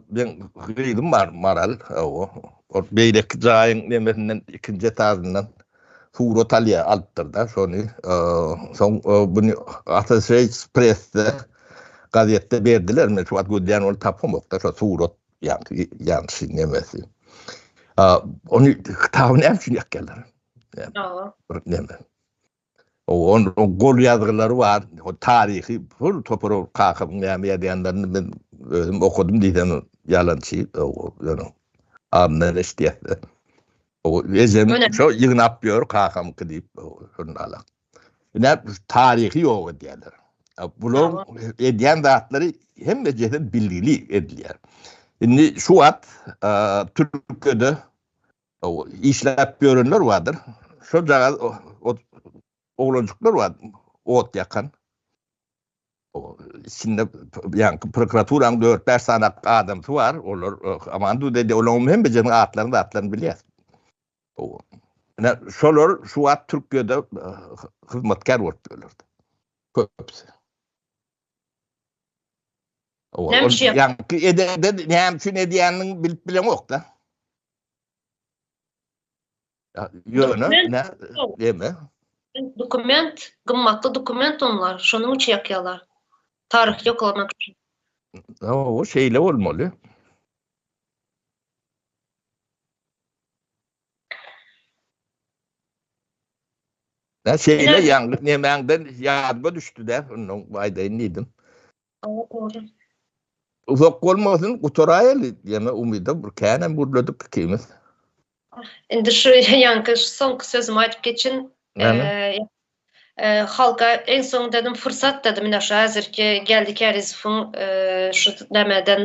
Men gyzym bar Maral. Hawa. Ol beýleki jaýyň nemesinden ikinji etajyndan surat alýar, alypdyr-da şony. Soň muny Associated Press-de gazetde berdiler. Men şu wagt gözleýän ony tapamok-da şo surat ýaňky ýanşy nemesi. Ony kitaby näme üçin ýakýarlar? Hawa. Bir neme. Onuň gol ýazgylary bar, o taryhy pul topary ol kakamyň näme ýazýanlaryny men özüm okadym diýsem ýalançy ýöne adyndan eşidýäs-de. Ejem şo ýygnap ýör kakamyňky diýip şondalag. Ine taryhy ýok edýärler. Bularyň edýän zatlary hemmejesi bilgili edilýär. Indi şu wagt Türkiýede O işläp ýörenler bardyr. Şol jagaz oglanjyklar bar, ot ýakan. O içinde ýaňky prokuraturaň 4-5 sany adamsy bar, olar aman dur diýdi, olaryň hem birjäniň atlaryny, zatlaryny bilýär. O ine şolar şu wagt Türkiýede hyzmatkär bolup ýörler. Köpüsi. O ýaňky edende näme üçin edýänini bilip bilemok-da. Ýöne ne deme. Dokument, gymmatly dokument onlar, şonuň üçin ýakýarlar. Taryh ýoklamak üçin. O şeýle bolmaly. Näçe ýaňly nemäňden ýadyma düşdi-de, onuň aýdaýyn diýdim. Uzak bolmasyn, gutaraýaly diýen umyda bir känem gürledik ikimiz. Indi şu ýaňky soňky sözümi aýdyp geçin. Halka en soň dedim, fursat dedim, ine şu häzirki Geldi Kärizowyň şu nämedendi.